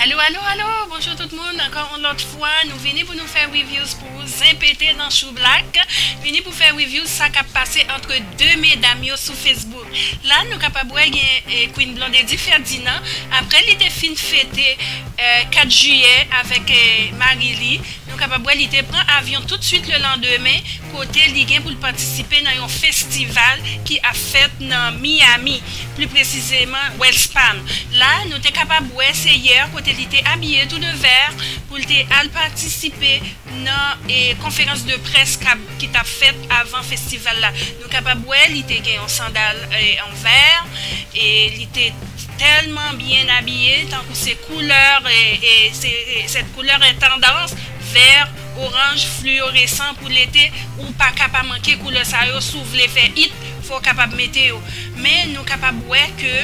Alo alo alo bonjou tout moun ankò yon lòt fwa nou vini pou nou fè reviews pou ou zen pete nan chou blak vini pou fè reviews sa kap pase antre 2 medam yo sou Facebook. La nou kapab wè gen Queen Blondedy Ferdinand aprè li te fin fete 4 jiyè avèk mari li, nou kapab wè li te pran avyon tout swit le landemen kote li gen pou l patisipe nan yon festival ki ap fèt nan Miami, pli presizeman Wells Palm. La nou te kapab wè se yè kote li te abiye tou de vè pou l te al patisipe nan konferans de près ki t ap fèt avan festival la. Nou kapab wè li te gen yon sandal an vè e li te tèlman byen abiye tankou se koulè e se t koulè an tandans vè oranj fliyoresan pou lete ou pa ka pa manke koulè sa yo si w vle fè it fò w kapab mete yo men nou kapab wè ke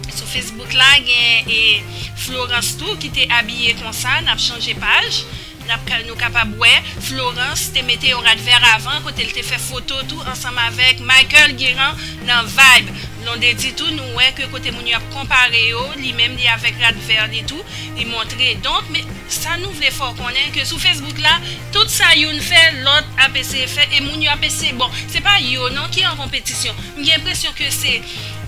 sou facebook la gen e florans tou ki te abiye konsa n ap chanje paj. Nou kapab wè Florence te mete yon rad vèr avan kote l te fè foto tou ansanm avèk Michael Guérin nan Vibe. Blondedy tou nou wè ke kote moun yo ap konpare yo li menm li avèk rad vèr li tou li montre donk men sa nou vle fè w konnen ke sou Facebook la tout sa youn fè lòt ap eseye fè e moun yo ap eseye bon se pa yo non ki an konpetisyon m gen enpresyon ke se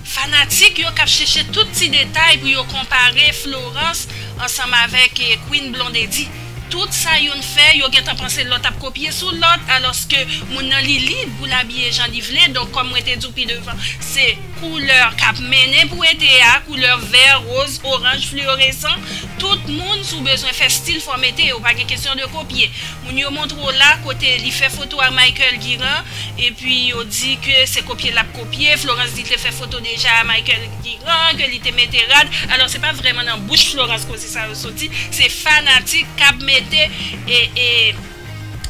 fanatik yo k ap chèche tout ti detay pou yo konpare Florence ansanm avèk Queen Blondedy. Tout sa youn fè, yo gentan panse lòt ap kopye sou lòt, alòske moun nan li lib pou l abiye jan li vle, donk kòm mwen te di w pi devan, se koulè k ap mennen pou ete a, koulè vè, roz, oranj, fliyoresan, tout moun si w bezwen fè stil fò w mete, yo pa gen kesyon de kopye. Moun yo montre w la kote li fè foto a Michael Guirand epi yo di ke se kopye lap kopye, Florence di te fè foto deja a Michael Guirand, ke li te mete rad, alò se pa vrèman nan bouch Florence koze sa yo soti, se fanatik kap mete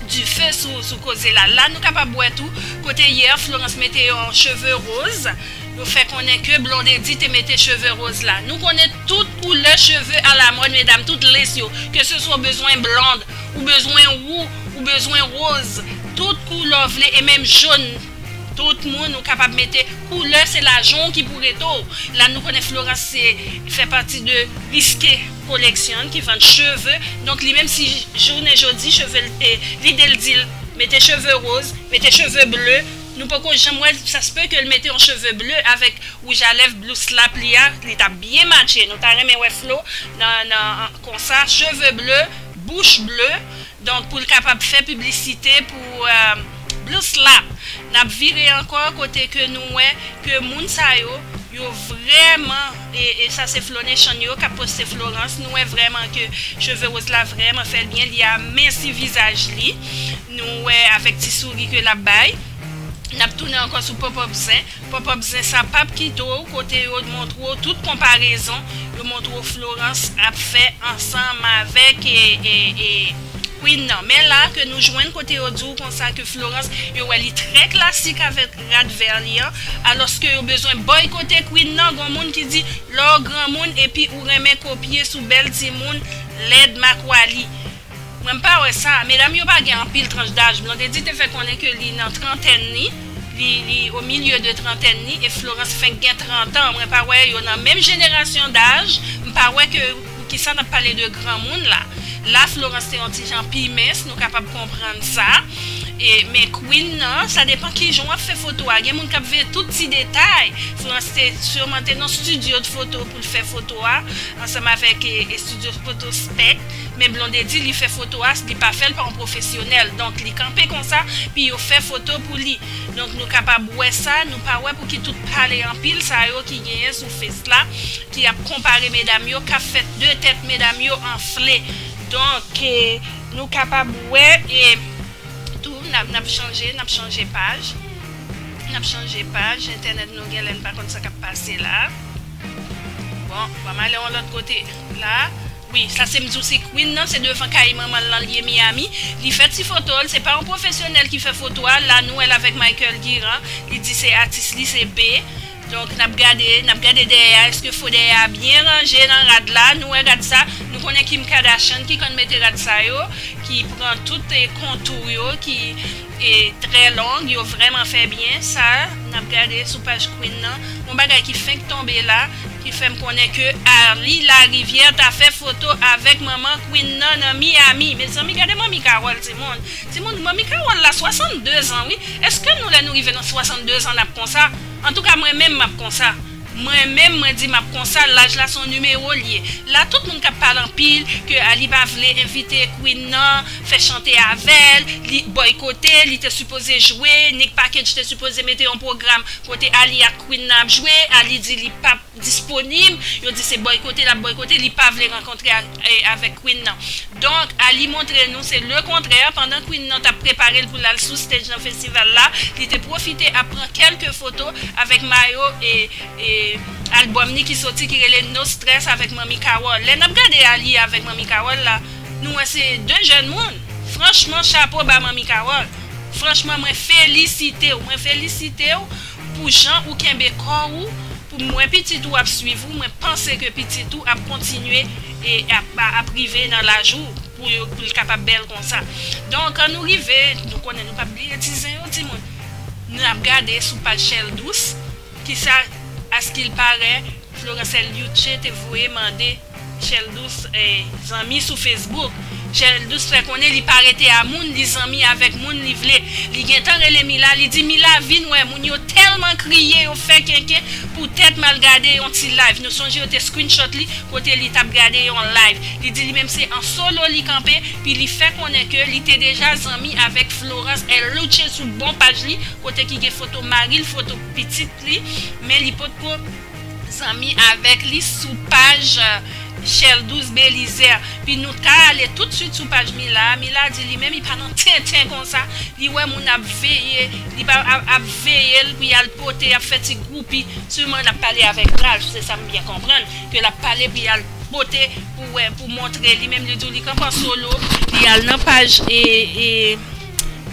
du feu sou koze la, la nou kapab wè tou kote yè Florence mete yon cheve roz, yo fè konnen ke Blondedy te mete cheve roz la, nou konnen tout koulè cheve alamòd medam, tout lens yo, ke se swa w bezwen blond, ou bezwen wou ou bezwen roz tout koulè w vle e menm jaune tout moun ou kapab mete koulè se lajan w ki pou rete w la nou konnen Florence se fè pati de Risque collection ki vann cheve donk li menm si jounen jodi cheve l te lide l di l mete cheve roz mete cheve bleu nou poko janm wè l sa se peut ke l mete yon cheve bleu avèk wouj a lèv blou slap li a li t ap byen matche nou ta renmen wè Flo nan konsa cheve bleu. bouche bleue donk pou l kapab fè piblisite pou bls lap nap vire ankò kote ke nou wè ke moun sa yo yo vrèman e sa se flo nechan yo kap poste florans nou wè vrèman ke cheve roz la vrèman fèl byen li aminsi vizaj li nou wè avèk ti souri ke lap bay nap tounen ankò sou pòpòp zen. Pop up zen sa pap kite w kote yo montre w tout konparezon yo montre w Florence ap fè ansanm avèk Queen nan men la ke nou jwenn kote yo di w konsa ke Florence yo wè li trè klasik avèk rad vè li an alòske yo bezwen bòykote Queen nan gon moun ki di lè w granmoun epi ou renmen kopye sou bèl timoun lèd makwali Mwen m pa wè sa, medam yo pa gen anpil tranch daj, Blondedy te fè konnen ke li nan trantèn li, li li au milieu de trantèn li e Florence fenk gen 30 ans, mwen pa wè yo nan menm jenerasyon daj, m pa wè ke poukisa nap pale de granmoun la, la Florence te yon ti jan pi mens nou kapab konprann sa e men Queen nan sa depan kijan wap fè foto a, gen moun kap veye tout ti detay, Florence te surman te nan studio de photo poul fè foto a ansanm avèk e studio photo spect. Men Blondedy li fè foto as li pa fèl pa yon profesyonèl donk li kanpe konsa pi yo fè foto pou li donk nou kapab wè sa nou pa wè pouki tout pale anpil sa yo ki genyen sou face la ki ap konpare medam yo kap fè de tèt medam yo anfle donk ke nou kapab wè e tou nap chanje nap chanje paj nap chanje paj entènèt nou genlè n pa konn sa kap pase la bon banm ale yon lòt kote la. Wi sa se mdiw si Queen nan se devan kay manmanl lan liye Miami li fè ti fotol se pa yon pwofesyonèl ki fè foto a la nou wèl avèk Michael Guirand li di se atis li se be donk nap gade nap gade dèyè a eske fo dèyè a byen ranje nan rad la nou wè rad sa nou konnen Kim Kardashian ki konn mete rad sa yo ki pran tout kontou yo ki e trè long yo vrèman fè byen sa nap gade sou paj Queen nan yon bagay ki fenk tonbe la ki fèm konnen ke Arly Larivière ta fè foto avèk manman Queen nan nan Miami mezanmi gade manmi Carole ti moun ti moun manmi Carole la 62 zan wi eske nou lè nou rive nan 62 zan nap konsa antouka mwen menm map konsa. Mwen menm mwen di map konsa laj la son numero l ye la tout moun kap pale anpil ke a li pa vle envite Queen nan fè chante avèl li bòykote li te sipoze jwe Nick package te sipoze mete yon pwogram kote Ali ak Queen nan ap jwe Ali di li pap disponib yo di se bòykote lap bòykote li pa vle rankontre ak avèk Queen nan donk Ali montre nou se le kontrè pandan Queen nan tap preparel poul al sou stage nan festival la li te pwofite ap pran kèlke foto avèk mayo album li ki soti ki rele No Stress avèk Manmi Carole lè nap gade Ali avèk Manmi Carole la nou wè se de jèn moun franchman chapo ba Manmi Carole franchman mwen felisitew mwen felisitew pou jan ou kenbe kò ou. Pou mwen pitit ou ap swiv ou mwen panse ke pitit ou ap kontinye e ap rive nan laj ou pou l kapab bèl konsa donk nou rive nou konnen nou pap bliye ti zen yo timoun nou ap gade sou paj chèl dous kisa askilpare Floransèl Youtche te voye mande Chèl Dous zanmi sou Facebook. Chèl Dous fè konnen li pa rete a moun, li zanmi avèk moun li vle. Li gentan rele Mila, li di Mila vin wè moun yo tèlman kriye yo fè kenken poutèt mal gade yon ti live. Nou sonje yo te screenshot li kote li tap gade yon live. Li di li menm se an solo li kanpe pi li fè konnen ke li te deja zanmi avèk Florence El Louche sou bon paj li kote ki gen foto maril foto pitit li men li potko zanmi avèk li sou paj Sheldous Belizaire pi nou ta ale tout swit sou paj Mila a, Mila di li menm li pa nan tenten konsa, li wè moun ap veye li pa ap veye l pou y al pote y ap fè ti gwoupi, siman l ap pale avèk Ralph se sa m byen konprann, ke l ap pale pou y al pote pou wè pou montre li menm li di w li kanpe an solo, li al nan paj e.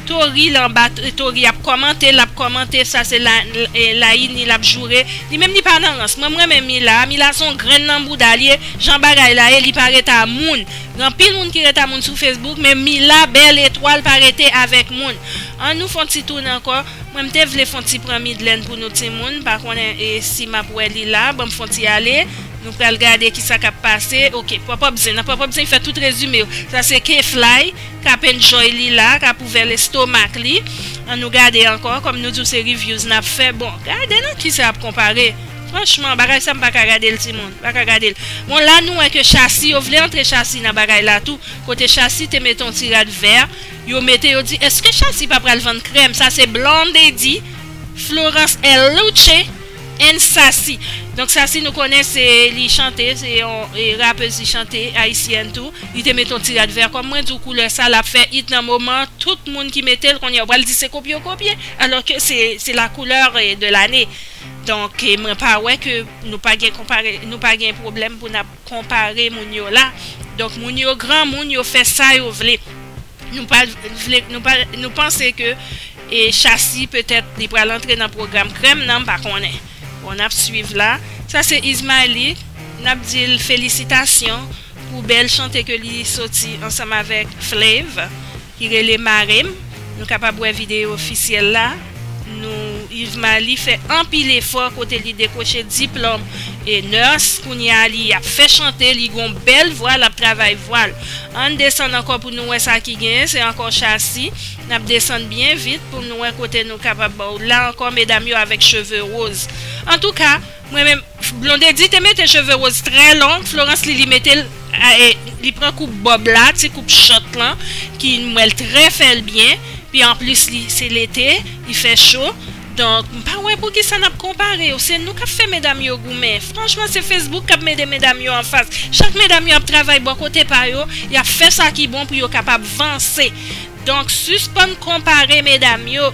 Tory l anba tory ap kòmante lap kòmante sa se layini lap joure li menm li pa nan rans mwen m renmen mila a mila son grenn nan bouda li ye jan bagay la ye li pa ret a moun gen anpil moun ki ret a moun sou facebook men mila bèl etwal pa rete avèk moun an nou fon ti toune ankò mwen m te vle fon ti pran midlèn pou nou timoun m pa konnen si map wè li la banm fon ti ale nou pral gade kisa kap pase ok pòpòp zen nan pòpòp zen fè tout rezime yo sa se k-fly. K ap enjoy li la, k ap ouvè lestomak li, an nou gade ankò, kòm nou di w se reviews n ap fè, bon gade nan kisa ap konpare, franchman bagay sa m pa ka gade l timoun, pa ka gade l, bon la nou wè ke Shassy yo vle antre Shassy nan bagay la tou, kote Shassy te mete yon ti rad vè, yo mete yo di eske Shassy pa pral vann krèm, sa se Blondedy, Florence L. Louche. N Sassy Donk Sassy nou konnen se li chante se yon rapez li chante ayisyèn tou li te met yon ti rad vè kòm mwen di w koulè sa lap fè it nan moman an tout moun ki mete l kounye a ou pral di se kopye yo kopye alò ke se la couleur de l'année donk mwen pa wè ke nou pa gen konpare nou pa gen pwoblèm pou n ap konpare moun yo la donk moun yo granmoun yo fè sa yo vle. Nou pa vle, nou pa, nou panse ke e Shassy petèt li pral antre nan pwogram krèm nan m pa konnen. Bon nap swiv la. Sa se Ismaëly, nap di l felisitasyon pou bèl chante ke li soti ansanm avèk Flav ki rele Mare m. Nou kapab wè videyo ofisyèl la. Nou Yves Maly fè anpil efò kote li dekwoche diplòm e nurse kounye a li ap fè chante li gon bèl vwa lap travay vwal ann desann ankò pou nou wè sa ki genyen se ankò chasi nap desann byen vit poun wè kote nou kapab la ankò medam yo avèk cheve rose antouka Mwen menm Blondedy te mete cheve rose trè long Florence Lily metel li pran koup bob la ti koup chòt lan ki m wèl trè fèl byen pi anplis li se lete li fè cho donk m pa wè poukisa nap konpare yo se nou kap fè medam yo goumen franchman se Facebook kap mete medam yo anfas chak medam yo ap travay bò kote pa yo yap fè sa ki bon pou yo kapab vanse donk sispann konpare medam yo.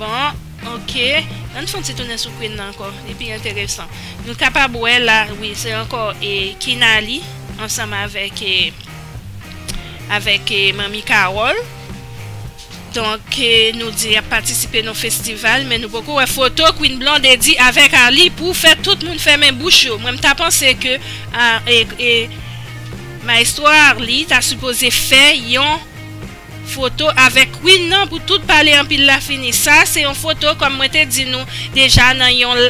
Bon, ok, ann fon ti tounen sou Queen nan ankò, li pi enteresan. Nou kapab wè la, wi, se ankò e Kinaly ansanm avèk e avèk e Manmi Carole. Donk e nou di yap patisipe nan festival men nou poko wè foto Queen Blondedy avèk Arly pou fè tout moun fèmen bouch yo. Mwen m ta panse ke a e e Maestro Arly ta sipoze fè yon. Foto avèk Queen nan pou tout pale anpil la fini. Sa a se yon foto kòm mwen te di nou deja nan yon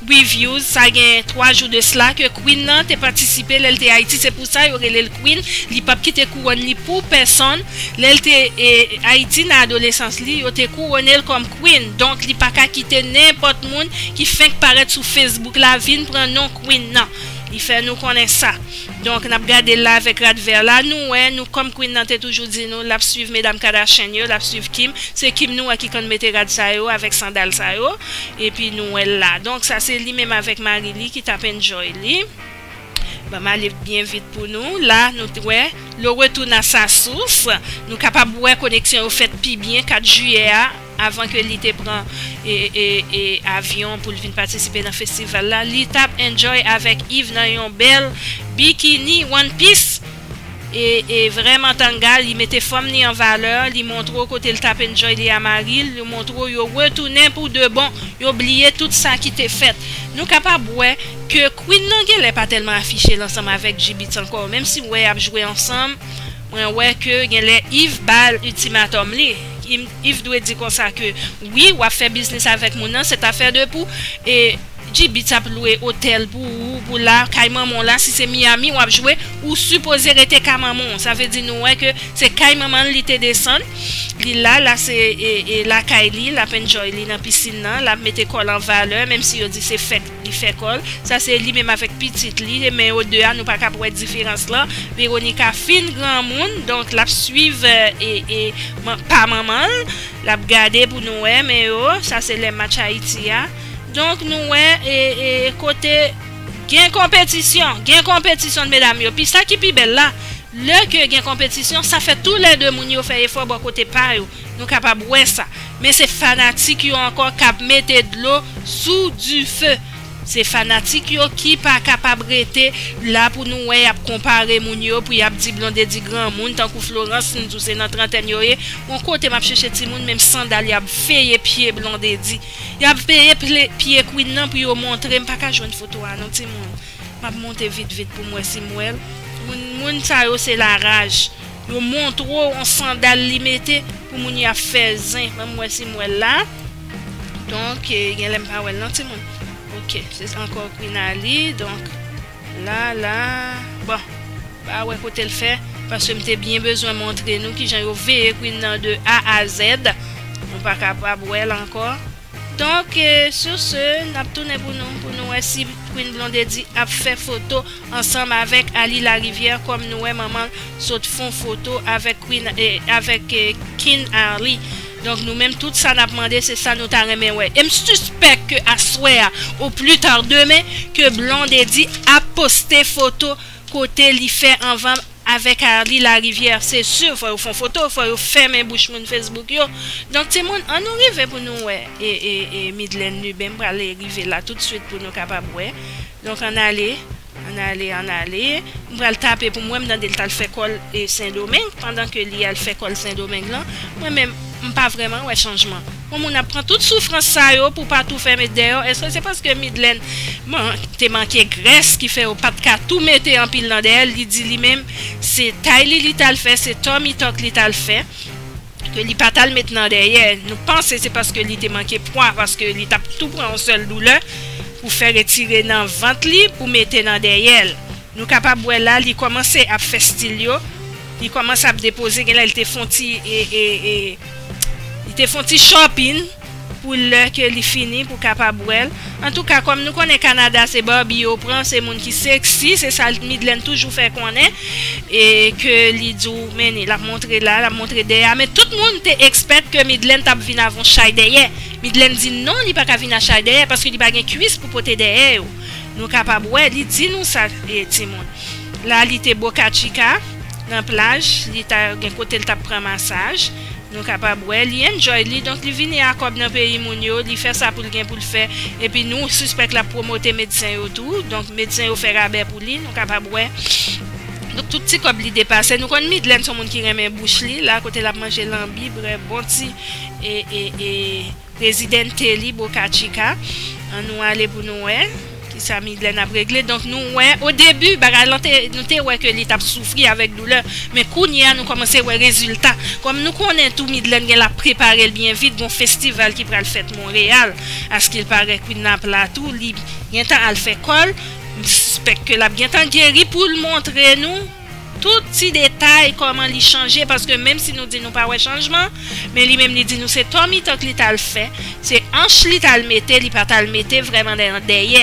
reviews sa gen 3 jou de sla ke Queen nan te patisipe lè l te Ayiti se pou sa yo rele l Queen li pap kite kouwòn li pou pèsonn lè l te Ayiti nan adolesans li yo te kouwone l kòm Queen donk li paka kite nenpòt moun ki fenk parèt sou Facebook la vin pran non Queen nan li fè nou konnen sa. Donk nap gadel la avèk rad vè la nou wè nou kòm Queen nan te toujou di nou lap swiv medam Kardashian yo lap swiv Kim se Kim nou wè ki konn mete rad sa yo avèk sandal sa yo epi nou wèl la donk sa se li menm avèk mari li ki tap enjoy li banm ale byen vit pou nou la nou t wè le retour na sa source nou kapab wè koneksyon yo fèt pi byen 4 jiyè a. Avan ke li te pran avyon pou l vin patisipe nan festival la, li t ap enjoy avèk Yve nan yon bèl bikini one piece e vrèman tanga. Li mete fòm li an valè, li montre w kote l t ap enjoy li a mari l, li montre w yo retounen pou de bon, yo bliye tout sa ki te fèt. Nou kapab wè ke Queen nan genlè pa tèlman afiche l ansanm avèk Jibbitz ankò, menm si w wè y ap jwe ansanm. Mwen wè ke genlè Yves bal ultimatum li. Yves dwe di konsa ke wi wap fè biznis avèk moun nan c'est affaire de pou e JB tap lwe otèl pou ou pou la kay manman w la si se Miami wap jwe ou sipoze rete ka manman w sa vle di nou wè ke se kay manman l li te desann li la la se e lakay li lap enjoy li nan piscine nan lap mete kòl an valeur menm si yo di se fèt Li fè kòl, sa se li menm avèk pitit li, men yo 2 a nou pa kab wè diferans lan, Veronica fin granmoun donk lap swiv pa manmanl, lap gade pou nou wè men yo, sa se lè match Ayiti a, donk nou wè kote gen konpetisyon, gen konpetisyon medam yo, pi sa ki pi bèl la lè ke gen konpetisyon sa fè tou lè 2 moun yo fè efò bò kote pa yo. Nou kapab wè sa. Men se fanatik yo ankò kap mete dlo sou dife. Se fanatik yo ki pa kapab rete la pou nou wè yap konpare moun yo pou yap di Blondedy granmoun tankou Florence m di w se nan trantèn yo ye on kote map chèche timoun men m sandal yap veye pye Blondedy yap veye pye Queen nan pou yo montre m pa ka jwenn foto a non timoun map monte vit vit pou m wè si m wè l moun sa yo se la raj. Yo montre w on sandal li mete pou moun yo ap fè zen. Ban m wè si m wè l la. Donk, gen lè m pa wè l non timoun. Ok, se sa ankò Quinali. Donk, la, la. Bon, m pa wè kote l fè paske m te byen bezwen montre nou ki jan yo veye Queen nan de A a zèd. Nou pa kapab wè l ankò. Donk sur ce nap tounen pou nou pou nou wè si Queen Blondedy ap fè foto ansanm avèk Aly Larivière kòm nou wè manmanl sot fon foto avèk Queen avèk King Arly donk nou menm tout sa nap mande se sa nou ta renmen wè em sispèk ke aswè a ou plus tard demen ke Blondedy ap poste foto kote li fè anvan Avek Arly lariviere se sur fò yo fon foto fò yo fèmen bouch moun Facebook yo donk ti moun an nou rive pou nou wè e Midlène Lubin m pral rive la tout suit pou nou kapab wè donk an ale an ale an ale m pral tape pou m wè m tande l tal fè kòl sendomeng pandan ke li al fè kòl sendomeng lan mwen menm m pa vrèman wè chanjman. Yon moun ap pran tout soufrans sa yo pou pa tou fèmen deyò eske se paske Midlèn te manke grès ki fè yo pat ka tou mete anpil nan dèyè l li di li menm se tay li li tal fè se tummy tuck li tal fè ke li pa tal met nan dèyè nou panse se paske li te manke pwa paske li tap tou pran yon sèl doulè pou fè retire nan vant li pou mete nan dèyè l nou kapab wè la li kòmanse ap fè stil yo li kòmanse ap depoze genlè li te fon ti e e e. Li te fon ti chòpin pou lè ke li fini pou kapab wèl. Antouka kòm nou konnen Canada se Barbie yo pran se moun ki sexy se sa Midlène toujou fè konnen e ke li di w men ni lap montre la lap montre dèyè a men tout moun te expect ke Midlène tap vin avè yon chay dèyè Midlène di non li paka vin a chay dèyè paske li pa gen kwis pou pote dèyè yo nou kapab wè li di nou sa timoun la li te Boca Chica. nan plaj li ta gen kotel tap pran masaj nou kapab wè li enjoy li donk li vini a kòb nan peyi moun yo li fè sa poul gen poul fè epi nou sispèk lap promote medsen yo tou donk medsen yo fè rabè pou li nou kapab wè donk tout ti kòb li depase nou konn Midlène son moun ki renmen bouch li la kote lap manje lanbi brè bon ti e e e. Presidente li boca chica an nou ale pou nou wè kisa Midlène ap regle donk nou wè o debu bagay lan te nou te wè ke li tap soufri avèk doulè men kounye a nou kòmanse wè rezilta kòm nou konnen tou Midlène gen lap preparel byen vit gon festival ki pral fèt Montréal askil parè Queen nap la tou li gentan al fè kòl m sispèk ke lap gentan geri poul montre nou. Tout ti detay kòman li chanje paske menm si nou di nou pa wè chanjman men li menm li di nou se to mitan k li t al fè se anch li t al mete li pa t al mete vrèman nan yon dèyè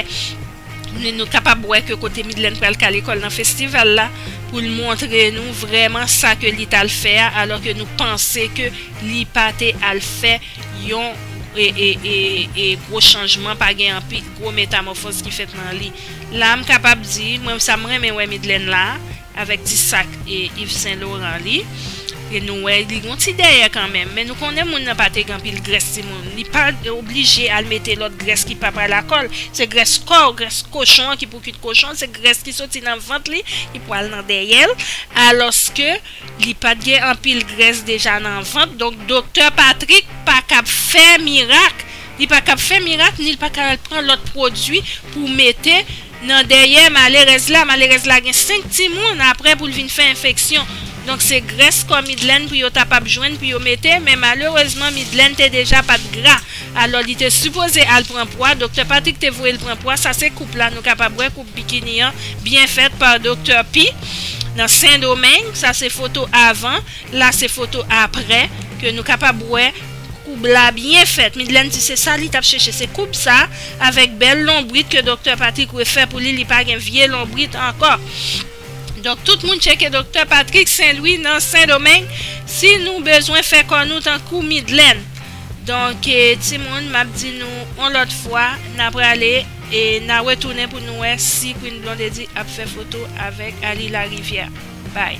ni nou kapab wè ke kote Midlèn pral kale kò l nan festival la pou l montre nou vrèman sa ke li t al fè a alò ke nou panse ke li pa te al fè yon e e e gwo chanjman pa gen anpi gwo metamòfòz ki fèt nan li. La m kapab di mwen sa m renmen wè Midlène la avèk ti sak Yves Saint Laurent li e nou wè li gon ti dèyè kanmenm men nou konnen moun nan pa te gen anpil grès ti moun li pa oblije al mete lòt grès ki pa pral ak l se grès kò grès kochon an ki pou kuit kochon se grès ki soti nan vant li ki pwal nan dèyè l alòske li pa t gen anpil grès deja nan vant donk doktè Patrick pa kab fè mirak Li pa kab fè mirak ni l pa ka al pran lòt pwodui pou mete nan dèyè malerèz la, malerèz la gen 5 timoun aprè pou l vin fè enfeksyon, donk se grès kò Midlèn pou yo ta pab jwenn pou yo mete, men malerezman Midlèn te deja pat gra, alò li te sipoze al pran pwa, doktè Patrik te voye l pran pwa, sa se koup la nou kapab wè koup bikini an byen fèt pa doktè P. nan Sendomeng, sa se foto avan, la se foto aprè ke nou kapab wè Koub la byen fèt. Midlèn di se sa li t ap chèche, se koub sa avèk bèl lonbrit ke doktè Patrik refè pou li, li pa gen vye lonbrit ankò. Donk tout moun tcheke doktè Patrik Senlwi nan Sendomeng si nou bezwen fè kò nou tankou Midlèn. Donk timoun m ap di nou on lòt fwa n a prale e n a retounen pou nou wè si Queen Blondedy ap fè foto avèk Arly Larivière. Bay.